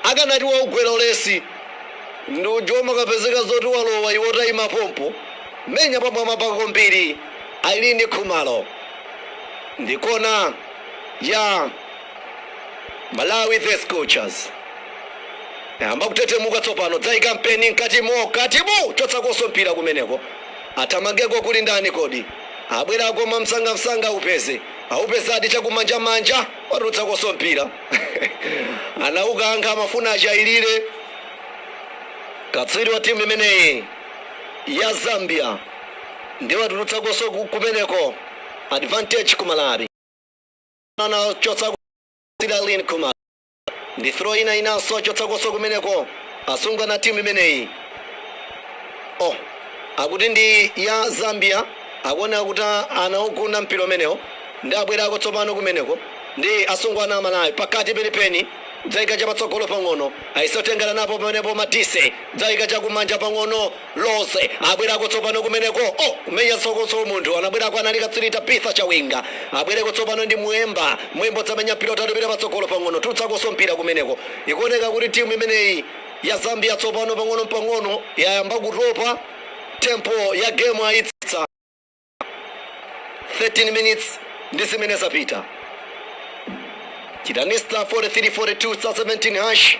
Akanati waugwera ulesi ndi uja umakapezeka zoti walowa iwe utaima pompo. Menya pamwambapa kwambiri Irene Khumalo. Ndi kona ya Malawi the Scorchers. Ayamba kutetemuka tsopano dzaika mpeni mkati mo katimu chotsakonso mpira kumeneko. Athamangeko kuli ndani kodi? Abwerako mwamsangamsanga aupeze. Aupezadi chakumanjamanja. watulutsakonso mpira anaukankha amafuna achailire katswiri wa timu imeneyi ya zambia ndi watulutsakonso ku- kumeneko advantage ku malawi anachotsa irene khumalo ndi throw ina inanso achotsakonso kumeneko asungwana a timu imeneyi oh akuti ndi ya zambia akuoneka kuti anaugunda mpira umenewo Ndi abwerako tsopano kumeneko ndi asungwana a Malawi, pakati penipeni, kudzaika chapatsogolo pang'ono, ayesa kutengana napo pamenepo Madise, kudzaika chakumanja pang'ono, Rose, abwerako tsopano kumeneko. Oh, kumenya sokoso, munthu anabwerako anali katswiri Tabitha Chawinga, abwereko tsopano ndi Mweemba, Mweemba dzamenya mpira wautali upite patsogolo pang'ono, tulutsakonso mpira kumeneko. Ikuoneka kuti timu imeneyi ya Zambia tsopano pang'ono mpang'ono yayamba kutopa, tempo ya gemu ayitsitsa. 13 minutes ndi zimene zapita chitani star 4342 star 17 hash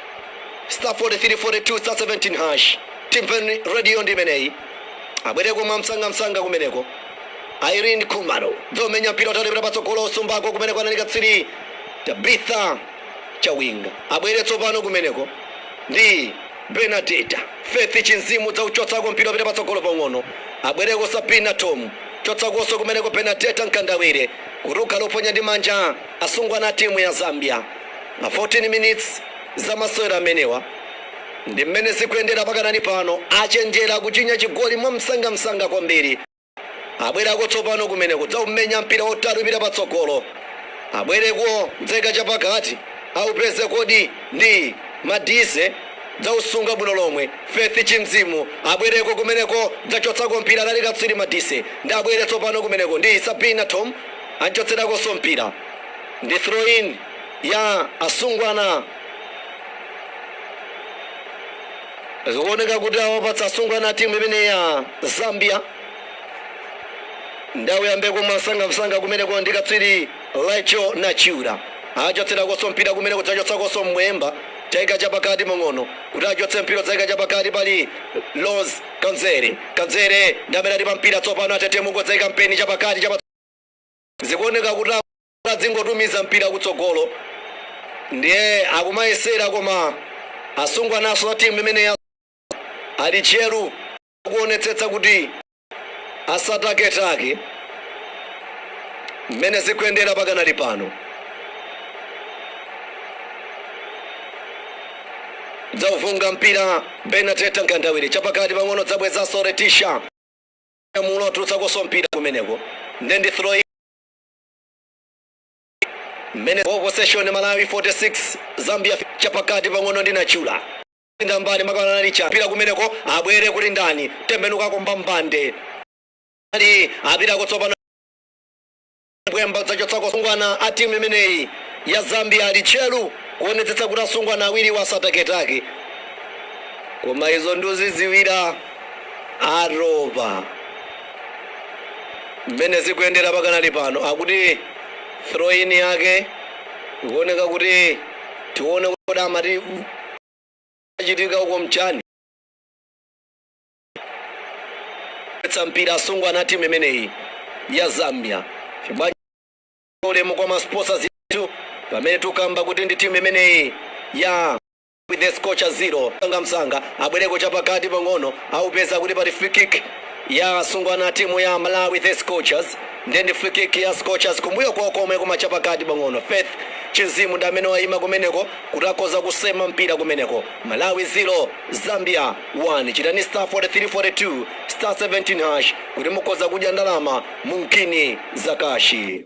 star 4342 star 17 hash timveni radio ndi imeneyi abwereko mwa msangamsanga kumeneko irene khumalo dzaumenya mpira wautali upita patsogolo usumbako kumeneko anali katswiri tabitha chawinga abwere tsopano kumeneko ndi Bernadeta, Faith Chinzimu dzauchotsako mpira upite patsogolo pang'ono abwereko Sabina Thom chotsakonso kumeneko Bernadeta Mkandawire kutuluka loponya ndi manja asungwana a timu ya Zambia pa 14 minutes za masewero amenewa ndimmene zikuyendera pakanali pano achenjera kuchinya chigoli mwamsangamsanga kwambiri. abwerako tsopano kumeneko dzaumenya mpira wautali upita patsogolo abwereko dzaika chapakati aupeze kodi ndi madise dzausunga bwino lomwe faith chinzimu abwereko kumeneko dzachotsako mpira anali katswiri madise ndi abwere tsopano kumeneko ndi sabina thom anchotserakonso mpira ndi throw in ya asungwana Zikuoneka kuti awapatsa asungwana a timu imeneyi ya Zambia ndi auyambeko mwamsangamsanga kumeneko ndi katswiri Rachael Nachula achotserakonso mpira kumeneko dzachotsakonso Mweemba dzaika chapakati pang'ono kuti achotse mpira dzaika chapakati pali Rose Kabzere Kabzere ndi amene ali pa mpira tsopano atetemuka dzaika mpeni chapakati chapa zikuoneka kuti adzingotumiza mpira kutsogolo ndiye akumayesera koma asungwanaso a timu imeneyi ali tcheru kuonetsetsa kuti asataketake mmene zikuyendera pakanali pano dzaufunga mpira Benadetta Mkandawire chapakati pang'ono dzabwezaso Leticia mulo atulutsakoso mpira kumeneko nde ndi throw mmene ball possession malawi 46 zambia chapakati pang'ono ndi Nachula ngambani makana licha mpira kumeneko abwere kuti ndani tembenuka komba mbande ali apitako tsopano Mweemba dzachotsako asungwana a timu imeneyi ya zambia ali tcheru kuonetsetsa kuti asungwana awiriwa asataketake koma izo nduziziwira atopa mmene zikuyendera pakanali pano akuti throw in yake ikuoneka kuti tione kuti amati achitika uko nchani tsa mpira asungwana a timu imeneyi ya zambia chibwaji ulemu kwa ma sponsors athu pamene tukamba kuti ndi timu imeneyi ya with the scorchers 0 msangamsanga abwereko chapakati pang'ono aupeza kuti pali free kick ya asungwana a timu ya malawi the scorchers ndiye ndi free kick ya scorchers kumbuyo kwawo komwe koma chapakati pang'ono faith chinzimu ndi amene wayima kumeneko kuti akhoza kusema mpira kumeneko malawi 0 zambia 1 chitani star 4342 star 17 hash kuti mukhoza kudya ndalama mu ngini zakashi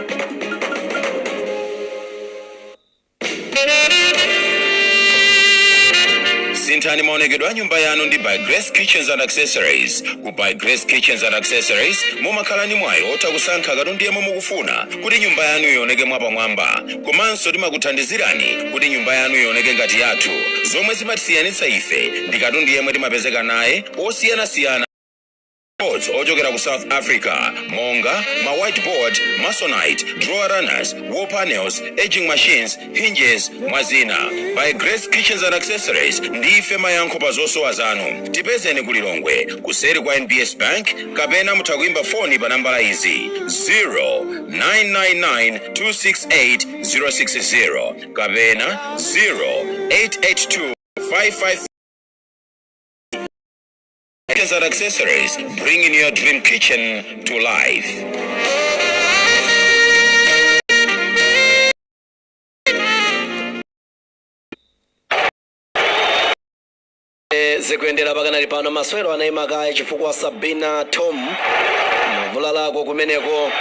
Sinthani maonekedwe a nyumba yanu ndi By Grace Kitchens and Accessories. Ku By Grace Kitchens and Accessories mumakhala ndi mwayi otha kusankha katundu yemwe mukufuna kuti nyumba yanu ioneke mwapamwamba. Komanso timakuthandizirani kuti nyumba yanu ioneke ngati yathu. Zomwe zimatisiyanitsa ife ndi katundu yemwe timapezeka naye osiyanasiyana Boards ochokera ku South Africa monga ma whiteboard, masonite, drawer runners, wall panels, edging machines, hinges, mwa zina. By Grace Kitchens and Accessories ndife mayankho pa zosowa zanu. Tipezeni ku Lilongwe kuseri kwa NBS Bank kapena mutha kuimba foni pa nambala izi 0999268060 kapena 0882 554 Kitchens and accessories, bringing your dream kitchen to life. Eh, zikuyendera pakanali pano masewero anayima kaye chifukwa sabina thom vulalako kumeneko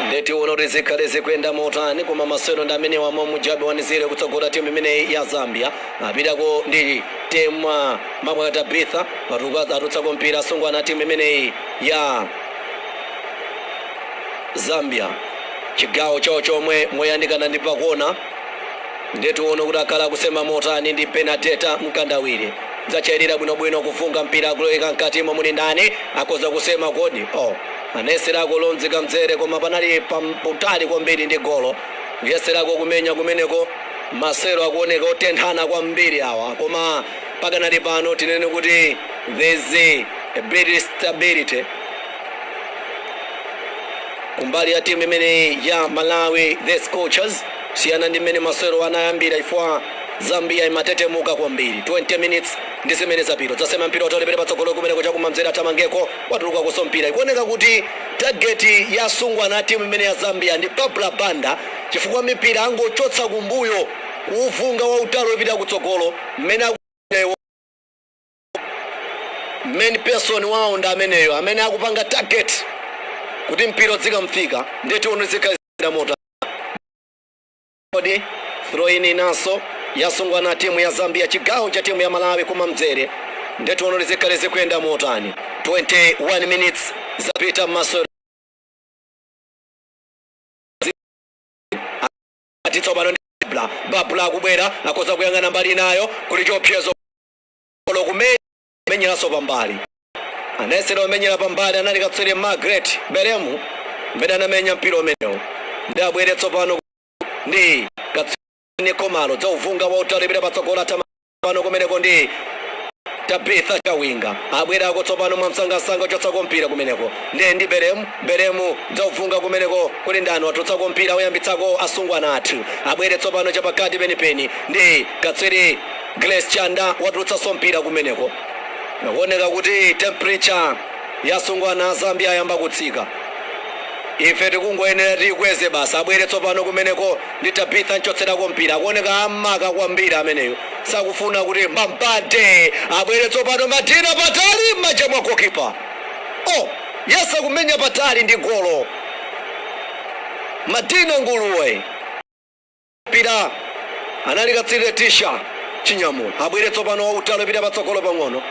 ndiye tione kuti zikhale zikuyenda motani koma masewero ndi amene wamwe mujabi wanizire kutsogola timu imeneyi ya zambia apitako ndi temwa Mabwa Tabitha Matuku atulutsako mpira asungwana timu imeneyi ya Zambia chigawo chawo chomwe moyandikana ndi pakona ndiye tione kuti akhala akusema motani ndi Benadeta Mkandawire dzachairira bwinobwino kuvunga mpira akuloweka mkatimo muli ndani akhoza kusema kodi oh. anayeserako Rose Kabzere koma panali pamtali kwambiri ndi golo kuyeserako kumenya kumeneko masewero akuoneka otenthana kwambiri awa koma pakanali pano tinene kuti there's a bit stability kumbali ya timu imeneyi ya malawi the scorchers siyana ndi mmene masewero anayambira chifukwa zambia imatetemuka kwambiri 20 minutes ndi zimene zapita dzasema mpira wautali pita patsogolo kumeneko chakumamzere athamangeko watulukakonso mpira ikuoneka kuti tageti ya asungwana timu imeneyi ya zambia ndi barbra banda chifukwa mipira angochotsa kumbuyo kuuvunga wautali wopita kutsogolo mmene main person wawo ndi ameneyo amene akupanga target kuti mpira uzikamfika ndiye tione zikhala zili motani kodi throw in inanso ya asungwana timu ya zambia chigawo cha timu ya malawi kumamzere ndiye tione zikhale zikuyenda motani 21 minutes zapita mmaso ati tsopano ndi barbra barbra akubwera akhoza kuyang'ana mbali inayo kuli chiopsezo kumenyeranso pambali anayesera kumenyera pambali anali katswiri margaret belemu mmene anamenya mpira umenewo ndi abwere tsopano ndi katswiri khumalo dzauvunga wautali pita patsogolo atama pano kumeneko ndi Tabitha Chawinga abwerako tsopano mwamsangamsanga chotsako mpira kumeneko ndi ndi Belemu Belemu dzauvunga kumeneko kuli ndani watulutsako mpira oyambitsako asungwana athu abwere tsopano chapakati penipeni ndi katswiri Grace Chanda watulutsanso mpira kumeneko zikuoneka kuti temperature ya asungwana a Zambia ayamba kutsika ife tikungoyenera tiikweze basi abwere tsopano kumeneko ndi Tabitha amchotserako mpira akuoneka amaka kwambiri ameneyo sakufuna kuti mbambande abwere tsopano Madina patali m'manja mwa gokipa oh, yesa kumenya patali ndi golo Madina Nguluwe mpira anali katswiri Leticia Chinyamula abwere tsopano wautali pita patsogolo pang'ono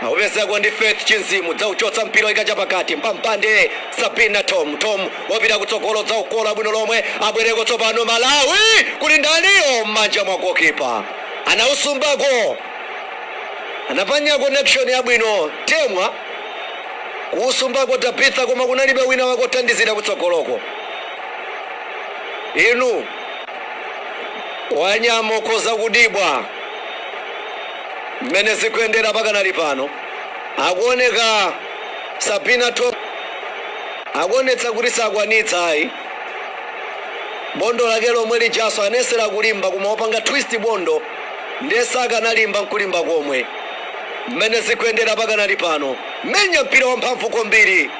Aupezako ndi Faith Chinzimu dzauchotsa mpira oyika chapakati mpampande Sabina Thom wapita kutsogolo dzaukola bwino lomwe abwereko tsopano Malawi kuli ndaniyo m'manja mwa gokipa anausumbako anapanya connection yabwino Temwa kuusumbako Tabitha koma kunalibe wina wakothandizira kutsogoloko inu wanyama ukhoza kudibwa Mmene zikuyendera pakanali pano akuoneka Sabina Thom akuonetsa kuti sakwanitsa ayi bondo lake lomwe lijaso anayesera kulimba koma wapanga twist bondo ndiye sakanalimba nkulimba komwe mmene zikuyendera pakanali pano menya mpira wamphamvu kwambiri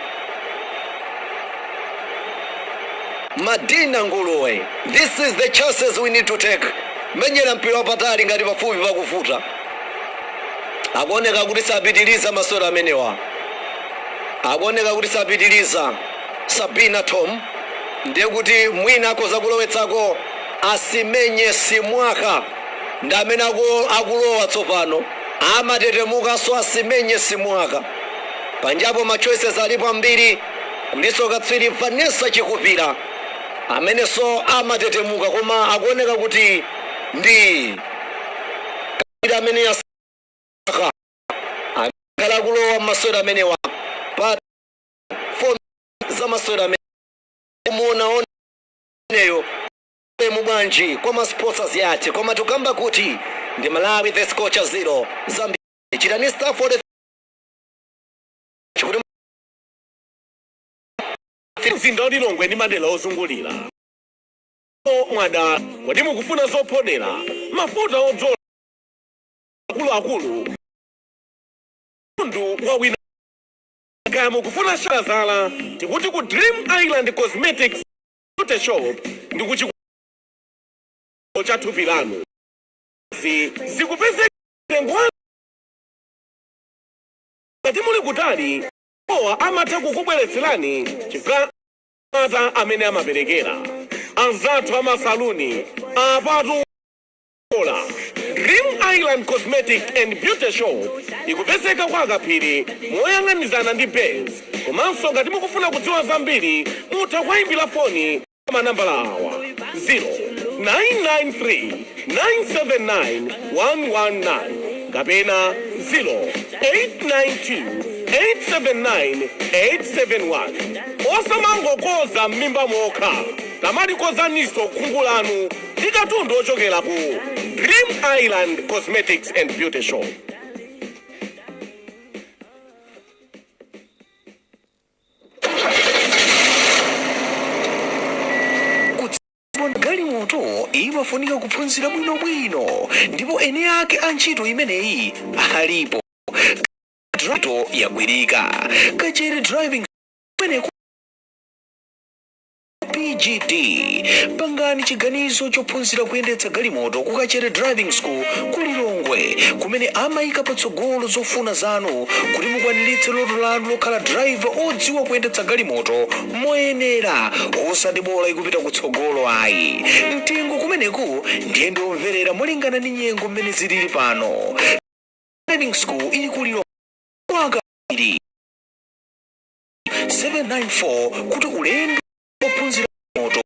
Madina Nguluwe, these are the chances we need to take, menyera mpira wapatali ngati pafupi pakuvuta. Akuoneka kuti sapitiliza masewero amenewa, akuoneka kuti sapitiliza. Sabina Thom ndiye kuti mwina akhoza kulowetsako Asimenye Simwaka ndi amene akulowa tsopano, amatetemukanso Asimenye Simwaka panjapo ma choices alipo ambiri Kuliso katswiri Vanessa Chikupira ameneso amatetemuka koma akuoneka kuti ndi katswiri amene yasakha akhale akulowa masewero amenewa pa za masewero amene kumuonaoneyo mu bwanji kwa ma sponsors athu koma tukamba kuti ndi Malawi the Scorchers zero Zambia chitani star 43 mzinda wa lilongwe ndi madera ozungulira mwada kodi mukufuna zophodera mafuta odzola akuluakulu mtundu wawina kaya mukufuna shalazala tikuti ku dream island cosmetics beauty shop ndi kuchiko cha thupi lanu zikupezeka Ngati muli kutali, iwowa amatha kukubweretserani chifukwa cha mapata amene amaperekera anzathu a masaluni. Apatu mwaola! Dream Island Cosmetic and Beauty Shop ikupezeka kwa Akaphiri moyang'anizana ndi Base komanso ngati mukufuna kudziwa zambiri mutha kuwaimbira foni pa. pa manambala awa 0993979119 kapena 0892879871 osamangokonza m'mimba mokha tamalikonzaninso khungu lanu ndi katundu ochokera ku dream island cosmetics and beauty shop galimoto imafunika kuphunzira bwinobwino ndipo eni ake a ntchito imeneyi alipo ntchito yagwirika kachere driving pgd pangani chiganizo chophunzira kuyendetsa galimoto ku kachere driving school ku lilongwe kumene amayika patsogolo zofuna zanu kuti mukwaniritse loto lanu lokhala driver odziwa kuyendetsa galimoto moyenera osati bola ikupita kutsogolo ayi mtengo kumeneko ndiye ndiomverera molingana ndi nyengo mmene zilili pano driving school ili ku lilongwe kwaka ili 794 kuti ulendo ophunzira moto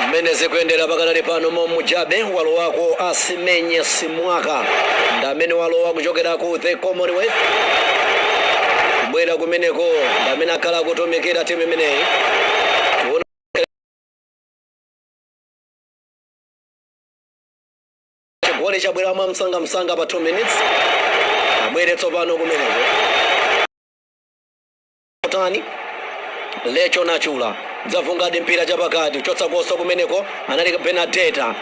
mmene zikuyendera pakanali pano momujabe wabwerako asimenya simwaka ndi amene walowa kuchokera ku the commonwealth kubwera kumeneko ndi amene akhala akutumikira timu imeneyi chigoli chabwera mwa msangamsanga pa 2 minutes abwere tsopano kumeneko tani lecho nachula dzavungadi mpira chapakati kuchotsa koso kumeneko anali bernadetta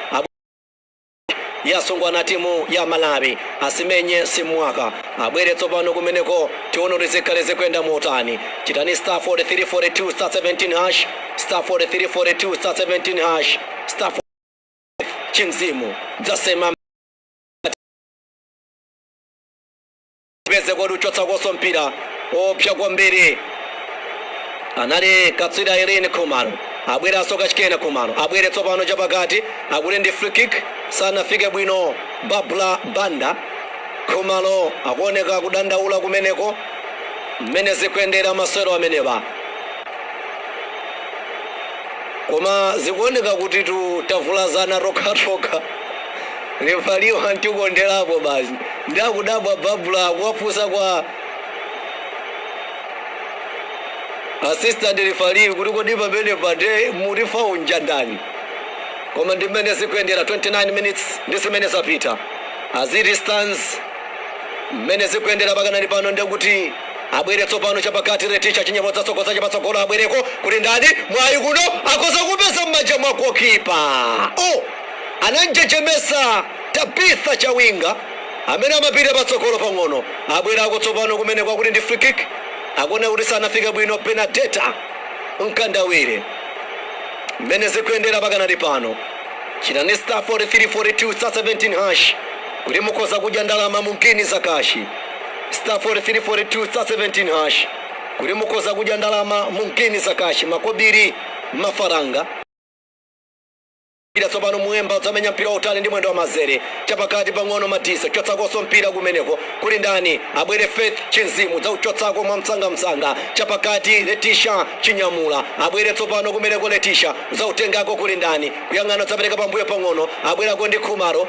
yasungana timu ya malawi asimenye simwaka abwere tsopano kumeneko tione kuti zikhale zikuyenda motani chitani star 4342 star 17 hash star 4342 star 17 hash star chimzimu dzasema peze kodi uchotsa koso mpira oopsa kwambiri anali katswiri irene khumalo abweranso kachikena khumalo abwere tsopano chapakati akuli ndi free kick sanafike bwino babla banda khumalo akuoneka kudandaula kumeneko mmene zikuyendera masewero amenewa Koma zikuoneka kutitu tavulazana tokhatokha. Refaliwa antikonderapo basi. Ndi akudabwa Babula akuwafunsa kwa assistant refaliyo kuti kodi pamenepa nde muti faulo njandani. Koma ndi mmene zikuyendera 29 minutes ndi zimene zapita. As it stands mmene zikuyendera pakanali pano ndekuti Abwere tsopano chapakati Letisha Chinyamula dzatsogoza chapatsogolo abwereko kuli ndani mwayi kuno akhoza kuupeza m'manja mwa gokipa oh! ananjejemesa Tabitha Chawinga amene amapita patsogolo pang'ono abwerako tsopano kumene kwakuti ndi free kick akuona kuti sanafika bwino Benadetta Mkandawire mmene zikuyendera pakanali pano chitani star 4342 star 17 hash kuti mukhoze kudya ndalama mu ngini zakashi star 4342 star 17 hash kuti mukhoze kudya ndalama mu ngini zakashi makobiri mafaranga mpira tsopano muemba udzamenya mpira wautali ndi mwendo wa mazere chapakati pang'ono madisa chotsakonso mpira kumeneko kuli ndani abwere faith chimzimu dzauchotsako mwa msangamsanga chapakati letisha chinyamula abwere tsopano kumeneko letisha dzautengako kuli ndani kuyang'ana udzapereka pambuyo pang'ono abwerako ndi khumalo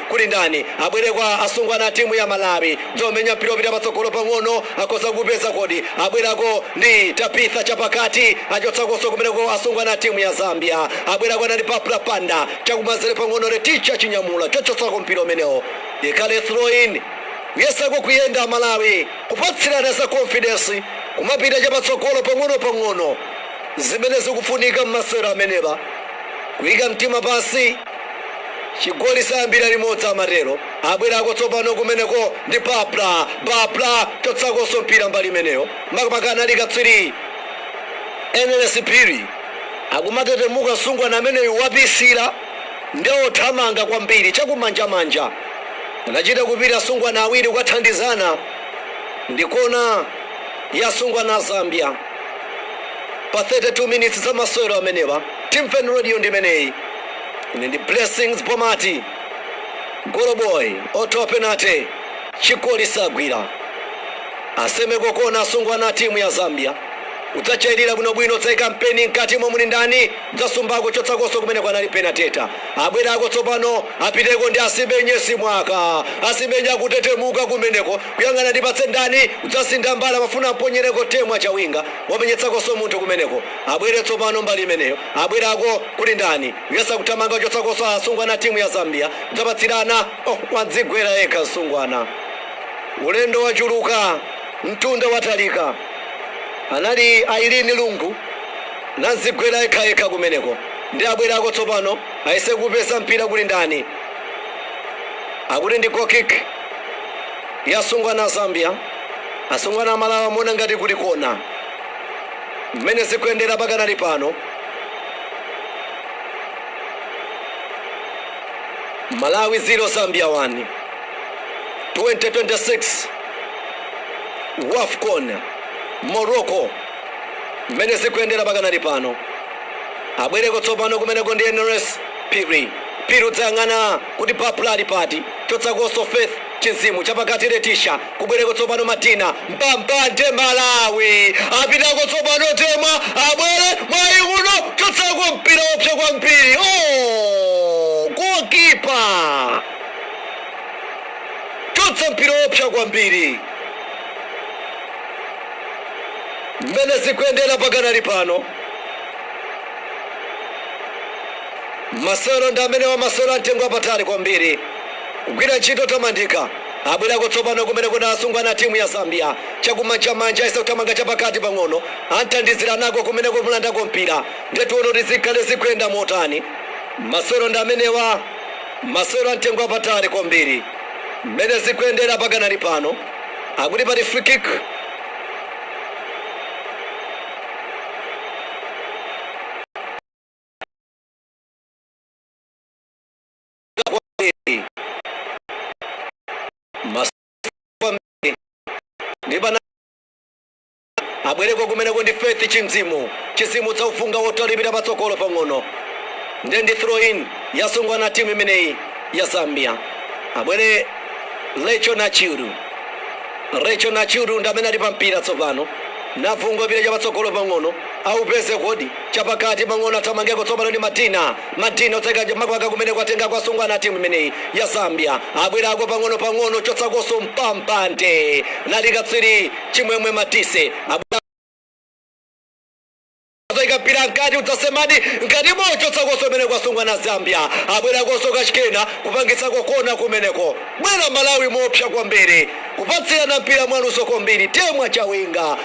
Kuli ndani abwereko asungwana a timu ya Malawi? Dzomenya mpira opita patsogolo pang'ono akhoza kuupeza kodi? Abwerako ndi Tabitha chapakati, achotsakonso kumeneko asungwana a timu ya Zambia. Abwerako anali Barbra Banda, chakumanzere pang'ono Leticia Chinyamula, chochotsako mpira umenewo. Ikhale throw in. Kuyesako kuyenda Malawi, kupatsirana za confidence, kumapita chapatsogolo pang'onopang'ono. Zimene zikufunika m'masewero amenewa. Kuika mtima pansi. chigoli sayambira limodzi amatero abwerako tsopano kumeneko ndi barbra barbra chotsakonso mpira mbali imeneyo makamaka anali katswiri eneles phiri akumatetemuka msungwana ameneyu wapitsira ndi othamanga kwambiri chakumanjamanja anachita kupita asungwana awiri kukathandizana ndi kona ya asungwana a zambia pa 32 minutes za masewero amenewa Timveni radio ndimeneyi ine ndi Blessings Bomati Goloboyi othaphenate chigoli sagwira asemeko kona asungwana atimu ya Zambia udzachayirira bwinobwino udzaika mpeni mkatimo muli ndani udzasumbako chotsakonso kumeneko anali Benadetta abwerako tsopano apiteko ndi asimenye simwaka asimenye akutetemuka kumeneko kuyang'ana ndipatse ndani udzasintha mbali amafuna amponyereko temwa chawinga wamenyetsakonso munthu kumeneko Abwere tsopano mbali imeneyo. Abwerako kuli ndani? Kuyesa kuthamanga chotsakonso asungwana a timu ya Zambia. Udzapatsirana. Oh, wadzigwera yekha msungwana. Ulendo wachuluka, mtunda watalika. Anali Ireen Lungu. Nadzigwera yekhayekha kumeneko. Ndi abwerako tsopano. Ayese kuupeza mpira kuli ndani? Akuti ndi goal kick ya asungwana a Zambia. Asungwana a Malawi amaona ngati kuti kona. Mmene zikuyendera pakanali pano, Malawi 0 Zambia 1 2026 Wafcon Morocco. Mmene zikuyendera pakanali pano, abwereko tsopano kumeneko ndi NRS Phiri udzayang'ana kuti Bapula ali pati, chotsakonso Faith Chinzimu chapakati Letisha Kubwereko tsopano Madina mbambande Malawi apitako tsopano Temwa abwere mwayi uno chotsako mpira wopsa kwambiri oh! goalkeeper chotsa mpira wopsa kwambiri mmene zikuyendera pakanali pano masewero ndi amenewa masewero amtengo wapatali kwambiri kugwira ntchito yotamandika Abwereko tsopano kumeneko asungwana a timu ya Zambia. Chakumanjamanja ayesa kuthamanga chapakati pang'ono. Athandizanako kumeneko kumulandako mpira. Ndiye tione kuti zikhale zikuyenda motani. Masewero ndi amenewa, masewero a mtengo wapatali kwambiri. Mmene zikuyendera pakanali pano, akuti pali free kick abwereko kumeneko ndi faith chinzimu chinzimu cha ufunga wotalipira patsogolo pang'ono nde ndi throw in ya asungwana a timu imeneyi ya zambia abwere rachael nachula rachael nachula ndi amene ali pa mpira tsopano nafunga mpira chapatsogolo pang'ono aupeze kodi chapakati pang'ono athamangeko tsopano ndi madina Madina otseka makwaka kumeneko atengako asungwana atimu imeneyi ya Zambia abwerako pang'ono pang'ono kuchotsakonso mbambande nali katswiri Chimwemwe Madise adzaika mpira mkati udzasemadi mkati mwa uchotsakonso kumeneko asungwana Zambia abwerakonso kachikena kupangitsako kona kumeneko bwera Malawi moopsa kwambiri kupatsirana mpira mwaluso kwambiri temwa chawinga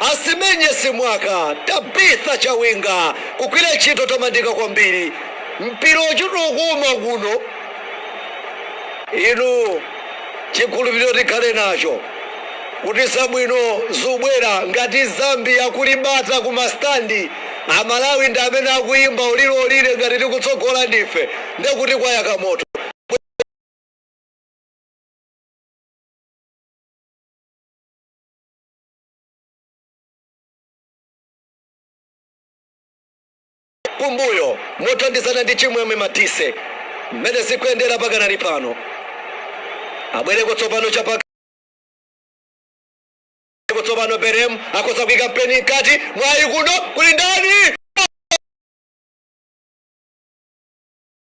Asimenye Simwaka, Tabitha Chawinga kugwira ntchito yotamandika kwambiri. Mpira ukuchita kuuma kuno. Inu chikhulupiliro tikhale nacho kuti zabwino zubwera ngati Zambia kuli bata ku ma stand amalawi ndi amene akuyimba olire olire ngati tikutsogola ndife ndekuti kwayaka moto. kumbuyo mothandizana ndi chimwemwe matise mmene zikuyendera pakanali pano abwereko tsopano chapakati tsopano berem akhoza kuika mpeni mkati mwayi kuno kuli ndani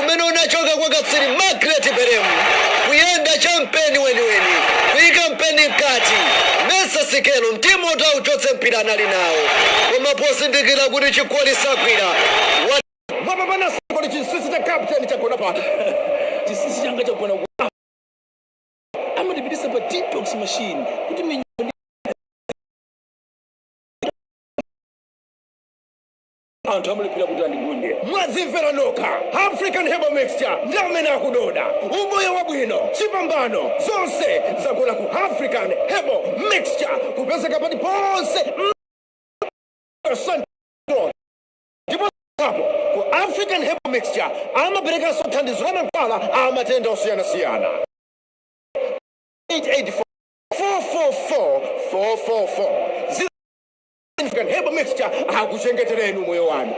umene unachoka kwa katswiri Margret Pelemu, kuyenga cha mpeni weniweni, kuika mpeni mkati, Mesa sikelo, mtima woti auchotse mpira anali nawo koma pozindikira kuti chigoli sagwira mwapambana zigoli chinsinsi cha kapteni chagona pa chinsinsi changa chagona amatipititsa pa detox machine kuti minyama anthu amalephera kuti andigunde mwadzimvera nokha african herbal mixture ndi amene akukonda umoyo wabwino chipambano zonse zagona ku african herbal mixture kupezeka paliponse ndipo apo ku african herbal mixture amaperekanso thandizo la mankhwala a matenda osiyanasiyana 884 444 444 African Herbal Mixture akuchengetereni moyo wanu.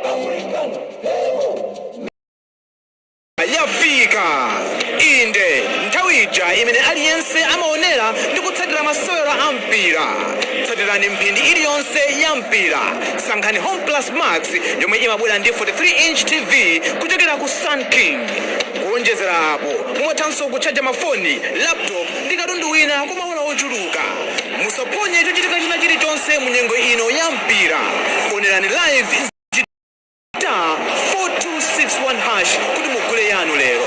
Yafika inde nthawi ija imene aliyense amaonera ndi kutsatira masewera a mpira. Tsatirani mphindi iliyonse ya mpira. Sankhani Home Plus Max yomwe imabwera ndi 43 inch TV kuchokera ku Sun King. Kuonjezera apo, mumathanso kutchaja mafoni, laptop ndi katundu wina kwa maola ochuluka. Musaphonye chochitika china chilichonse mu nyengo ino ya mpira. Onerani live dinani star 4261 hash kuti mugule yanu lero.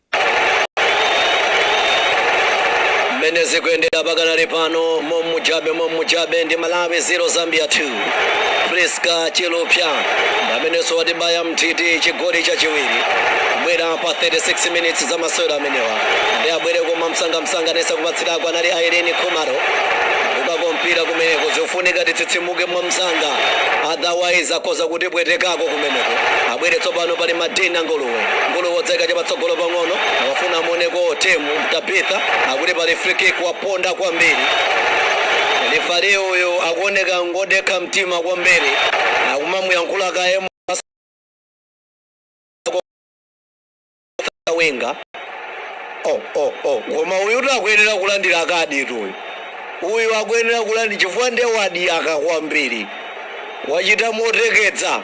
mmene zikuyendera pakanali pano momujabe momujabe ndi malawi 0 zambia 2 priska chilufya amenenso watibaya m'nthiti chigoli chachiwiri kubwera pa 36 minutes za masewera amenewa ndi abwereko mwamsangamsanga anayesa kupatsirako anali irene khumalo ukako mpira kumeneko zofunika titsitsimuke mwa msanga otherwise akhoza kutipwetekako kumeneko abwereko tsopano pali madina ngolo Nguluwe udzaika cha patsogolo pang'ono akufuna amuoneko Temwa Tabitha akuti pali free kick waponda kwambiri lifali uyu akuoneka ngodekha mtima kwambiri akumamuyankhula kaye Chawinga oh, oh, oh. koma uyu tu akuyenera kulandira kaditu uyu uyu akuyenera kulandira chifukwa nde wadiyaka kwambiri wachita moteketsa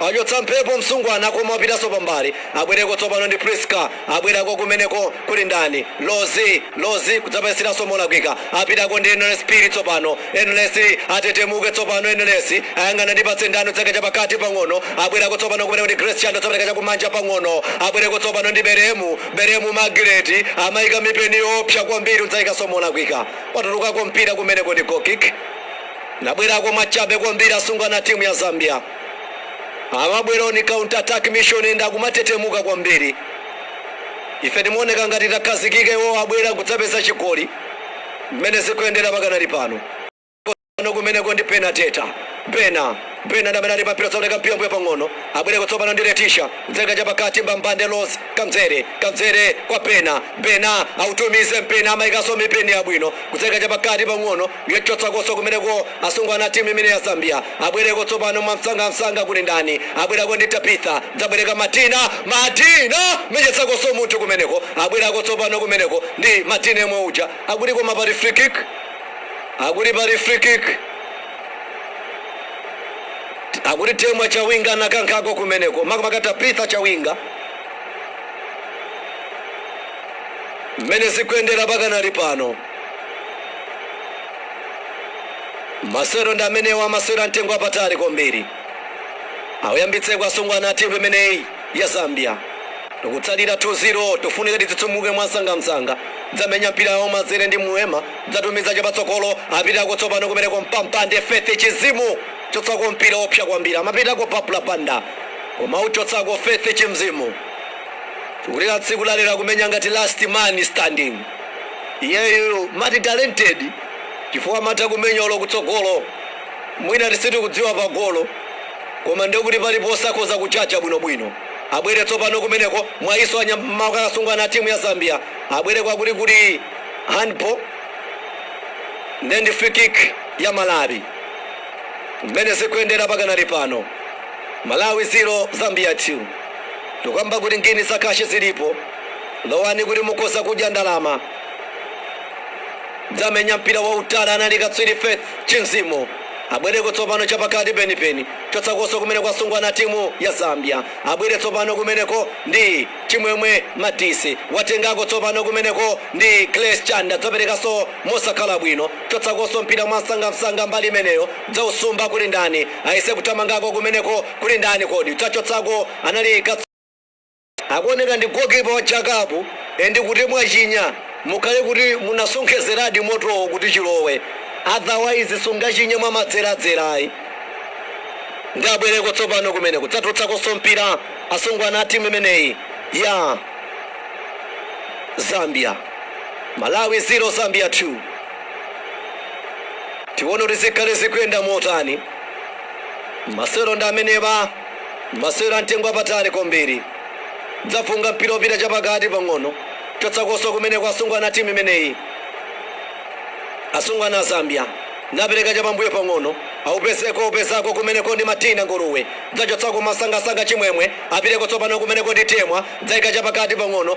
Achotsa mphepo msungwana koma wapitanso pambali abwereko tsopano ndi Prisca abwerako kumeneko kuli ndani Rose Rose kudzapasiranso molakwika apitako ndi Enelesi Phiri tsopano Enelesi atetemuke tsopano Enelesi ayang'ana ndipatse ndani udzaika chapakati pang'ono abwerako tsopano kumeneko ndi Grace Chanda udzapereka chakumanja pang'ono abwereko tsopano ndi Belemu Belemu Margaret amaika mipeni yoopsa kwambiri udzaikanso molakwika watulukako mpira kumeneko ndi goal kick Nabwerako mwachabe kwambiri asungwana a timu ya Zambia. amabwera on counter attack mission and akumatetemuka kwambiri ife timaoneka ngati takhazikika iwo abwera kudzapeza chigoli mmene zikuyendera pakanali pano pano kumeneko ndi Bernadetta Bena Bena ndi amene ali pampira zaoneka mpira mmbuyo pang'ono abwereko tsopano ndi Leticia kudzaika chapakati mbambande Rose Kabzere Kabzere kwa Bena Bena autumize mpeni amayikanso mipeni yabwino kudzaika chapakati pang'ono Auchotsakonso kumeneko asungwana a timu imene ya Zambia abwereko tsopano mwamsangamsanga kuli ndani abwerako ndi Tabitha dzapereka Madina Madina menyetsakonso munthu kumeneko abwerako tsopano kumeneko ndi Madina yemwe uja akuti koma pali free kick akuti pali free kick akuti Temwa Chawinga anakankhako kumeneko makamaka Tabitha Chawinga mmene zikuyendera pakanali pano masewero ndi amenewa masewero a mtengo wapatali kwambiri auyambitseko asungwana a timu imeneyi ya Zambia tikutsalira 2-0 tikufunika titsitsimuke mwamsangamsanga dzamenya mpira yawo mazere ndi Mweemba dzatumiza chapatsogolo apitako tsopano kumeneko mbambande Faith Chinzimu chotsako mpira wopsa kwambiri amapitako Barbra Banda koma uchotsako Faith Chinzimu tikulira tsiku lalero akumenya ngati last man standing Iyeyu multi talented chifukwa amatha kumenya olo kutsogolo mwina tisitikudziwa pa golo koma ndekuti paliponse akhoza kutchaya bwino bwino abwere tsopano kumeneko mwayiso anyamaka asungwana a timu ya Zambia abwereko akuti kuli handball nde ndi free kick ya Malawi mmene zikuyendera pakanali pano Malawi 0 Zambia 2 tikukamba kuti ngini za kashi zilipo Lowani kuti mukhoza kudya ndalama. Dzamenya mpira wautali anali katswiri Faith Chinzimu. Abwereko tsopano chapakati penipeni. Chotsakoso kumeneko asungwana timu ya Zambia. Abwere tsopano kumeneko ndi Chimwemwe Madise. Watengako tsopano kumeneko ndi Grace Chanda. Dzaperekaso mosakhala bwino. Chotsakoso mpira mwansangamsanga mbali imeneyo. Dzausumba kuli ndani? Ayese kuthamangako kumeneko kuli ndani kodi? Dzachotsako anali katswiri. Akuoneka ndi goalkeeper wa jakapu and kuti mwachinya mukhale kuti munasonkhezeradi motowo kuti chilowe otherwise sungachinya mwa madzeradzera ayi nde abwereko tsopano kumeneko dzatulutsakonso mpira asungwana a timu imeneyi ya Zambia Malawi 0 Zambia 2 tione kuti zikhale zikuyenda motani masewero ndi amenewa Masewero a mtengo wapatali kwambiri. Dzafunga mpira wopita chapakati pang'ono. Chotsakoso kumeneko asungwana a timu imeneyi. Asungwana a Zambia napereka chapambuyo pang'ono. Aupezeko aupezako kumeneko ndi Madina Nguluwe. Dzachotsako mwasangasanga Chimwemwe. Apiteko tsopano kumeneko ndi Temwa. Dzaika chapakati pang'ono.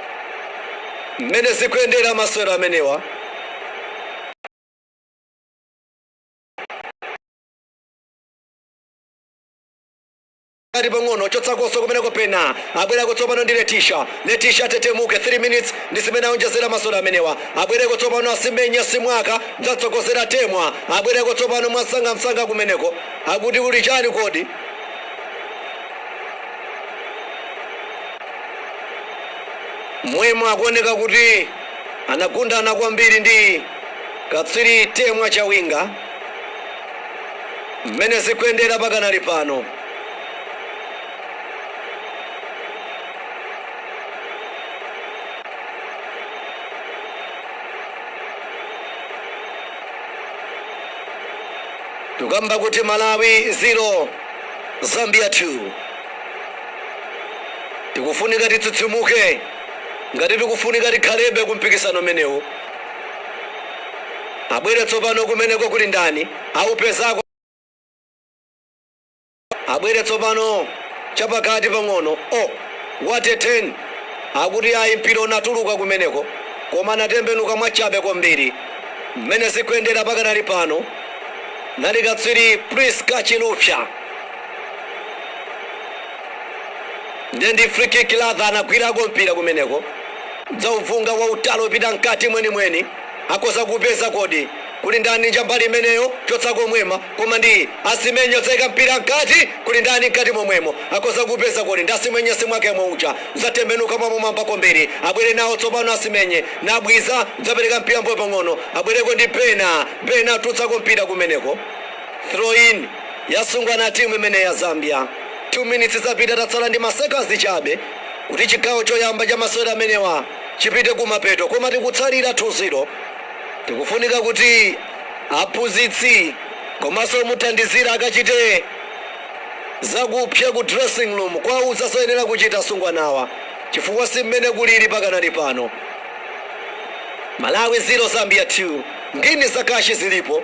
mmene zikuyendera masewero amenewa kati pang'ono chotsakoso kumeneko pena abwereko tsopano ndi letisha letisha atetemuke 3 minutes ndi zimene aonjezera masewero amenewa abwereko tsopano asimenye simwaka dzatsogozera temwa abwereko tsopano mwasangamsanga kumeneko akuti kuli chani kodi Mwemwe akuoneka kuti anagundana kwambiri ndi katswiri Temwa Chawinga. Mmene zikuyendera pakanali pano, tukamba kuti Malawi 0 Zambia 2. Tikufunika titsitsimuke ngati tikufunika tikhalebe ku mpikisano umenewu. Abwere tsopano kumeneko kuli ndani? Aupezako. Abwere tsopano chapakati pang'ono. O, oh, what a turn akuti ayi mpira unatuluka kumeneko koma anatembenuka mwachabe kwambiri mmene zikuyendera pakanali pano nali katswiri Prisca Chilufya. ndiye ndi free kick latha anagwirako mpira kumeneko kudzauvunga wautali opita mkati mwenimweni akoza kupeza kodi kuli ndani kumbali imeneyo chotsa komweko koma ndi asimenye kudzaika mpira mkati kuli ndani mkati momwemo akoza kupeza kodi ndi asimenye simwaka uja kudzatembenuka mwapamwamba kwambiri abwere nawo tsopano asimenye simwaka kudzapereka mpira mbuyo pang'ono abwereko ndi bena achotsako mpira kumeneko Throw in yasungwa na timu imeneyi ya Zambia 2 minutes zapita tatsala ndi ma seconds chabe kuti chigawo choyamba cha masewera amenewa chipite kumapeto koma tikutsalira 2 0 tikufunika kuti aphunzitsi komanso omuthandizira akachite zakupsa ku dressing room kwauza zoyenera kuchita asungwanawa chifukwa si mmene kulili pakanali pano malawi 0 zambia 2 ngini za kashi zilipo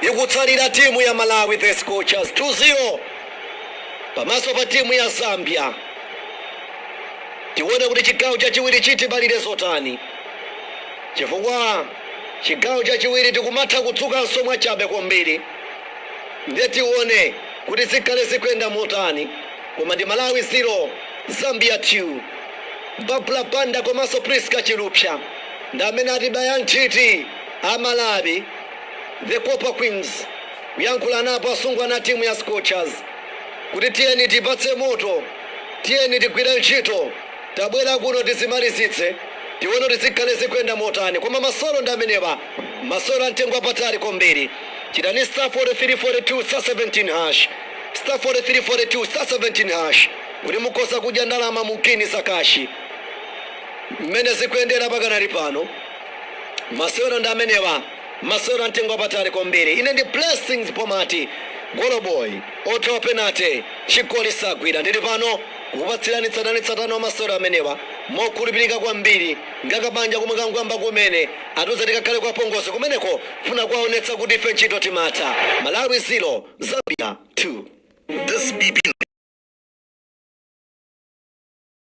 ikutsalira timu ya Malawi the Scorchers 2 0 pamaso pa timu ya Zambia. Tione kuti chigawo chachiwiri chitibalire zotani, chifukwa chigawo chachiwiri tikumatha kudzukanso mwachangu kwambiri, ndiye tione kuti zikhale zikuyenda motani. Koma ndi Malawi 0 Zambia 2. Barbra Banda komanso Prisca Chilufya ndi amene atibaya nthiti a Malawi. The Copper Queens kuyankhulanapo asungwana a timu ya Scorchers kuti tiyeni tiipatse moto, tiyeni tigwire ntchito, tabwera kuno tizimalizitse tione kuti zikhale zikuyenda motani koma masewero ndi amenewa, masewero a mtengo wapatali kwambiri. Chitani star 43 42 star 17 hash star 43 42 star 17 hash kuti mukhoza kudya ndalama mu ngini za kashi. Mmene zikuyendera pakanali pano. Masewero ndi amenewa, masewero a mtengo wapatali kwambiri. Ine ndi Blessings Pomati, goloboyi, othawa penate, chigoli sagwira. Ndili pano kukupatsirani tsatanetsatane wa masewero amenewa mokhulupirika kwambiri. Ngati kabanja komwe kangoyamba kumene, atiuza tikakhale kwa apongozi kumeneko kufuna kuwaonetsa kuti ife ntchito timatha. Malawi 0, Zambia 2. This be